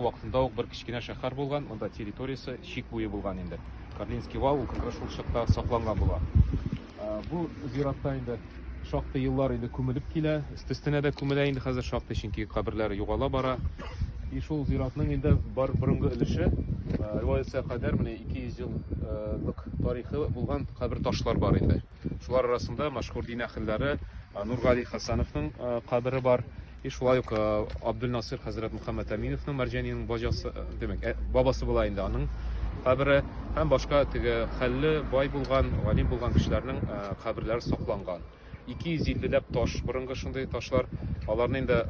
Вакытында ук бер кечкенә шәһәр булган, монда территориясе чик буе булган инде. Карлинский вал, ул как раз шул чакта сакланган була. Бу зиратта инде шактый еллар инде күмелеп килә, өстестенә дә күмелә инде хәзер шактый, чөнки каберләр югала бара. И шул зиратның инде бар борынгы өлеше, риваятьсә кадәр менә 200 еллык тарихы булган кабер ташлар бар инде. Шулар арасында мәшһүр дин әһелләре Нургали Хәсәновның кабере бар. И шулай ук Абдулнасир хәзрәт Мөхәммәд Әминовның Мәрҗәниянең баҗасы, димәк, бабасы була инде аның кабере һәм башка теге хәлле, бай булган, галим булган кешеләрнең каберләре сакланган. 250 ләп таш, борынгы шундый ташлар. Аларны инде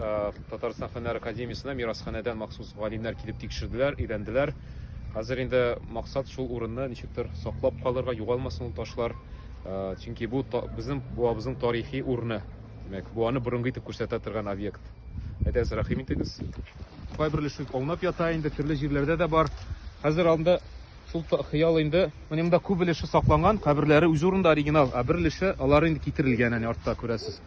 Татарстан Фәннәр академиясенә мирасханәдән махсус галимнәр килеп тикшерделәр, өйрәнделәр. Хәзер инде максат шул урынны ничектер саклап калырга, югалмасын ул ташлар. Э, чөнки бу безнең буабызның тарихи урыны. Димәк, буаны борынгы итеп күрсәтә торган объект. Әйтәгез, рәхим итегез. Кайбер өлеше аунап ята инде, төрле җирләрдә дә бар. Хәзер алында шул хыял инде. Менә монда күп өлеше сакланган, каберләре үз урында оригинал, ә бер өлеше алар инде китерелгән, әнә артта күрәсез.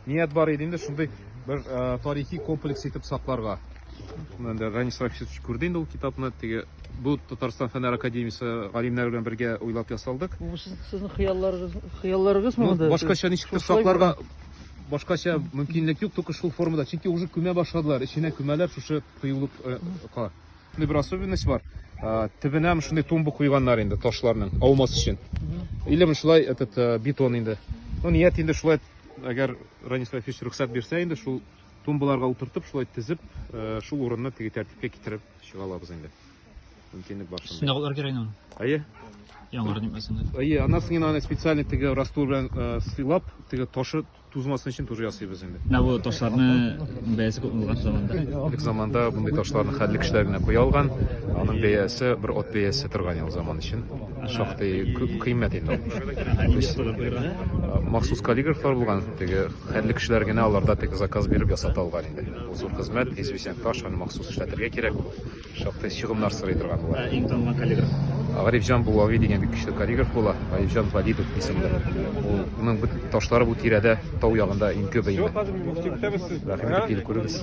Ният бар иде инде шундый бер э, тарихи комплекс итеп сакларга. Монда Ранис Рафисович күрде инде ул китапны. Теге бу Татарстан фәннәр академиясе галимнәре белән бергә уйлап ясалдык. Бу сезнең хыялларыгыз, хыялларыгыз мы монда? Башкача ничектер сакларга башкача мөмкинлек юк, только шул формада. Чөнки уже күмә башладылар, эченә күмәләр шушы кыюлык э, ка. Менә бер особенность бар. Э, Төбенә шундый тумба куйганнар инде ташларның аумас өчен. Или шулай этот э, бетон инде. Ну, ният инде шулай Әгәр Ранис Фәфич рөхсәт бирсә инде, шул тумбаларга утыртып, шулай тезеп, э, шул урынны теге тәртипкә китереп чыга алабыз инде. Мөмкинлек бар шунда. Сынагылар кирәк инде. Әйе. Яңгыр димәсен. Әйе, аннан соң аны специально теге раствор белән э, сыйлап, теге ташы тузмасын өчен тоже ясыйбыз инде. Менә бу ташларны бәясе күп булган заманда. Элек заманда мондый ташларны хәлле кешеләр генә куя алган. Аның бәясе бер от бәясе торган ел заман өчен. Шактый күп кыйммәт инде ул. Махсус каллиграфлар булган, теге хәлле кешеләр генә аларда теге заказ биреп ясата алган инде. Бу зур хезмәт, известен факт, аны махсус эшләтергә кирәк ул. Шактый чыгымнар сорый торган була. Ә иң танылган каллиграф? Гарифҗан Булави дигән бик көчле каллиграф була. Гарифҗан Валидов исемле. Ул, аның бу ташлары бу тирәдә, тау ягында иң күбе инде. Рәхим итеп килеп күрегез.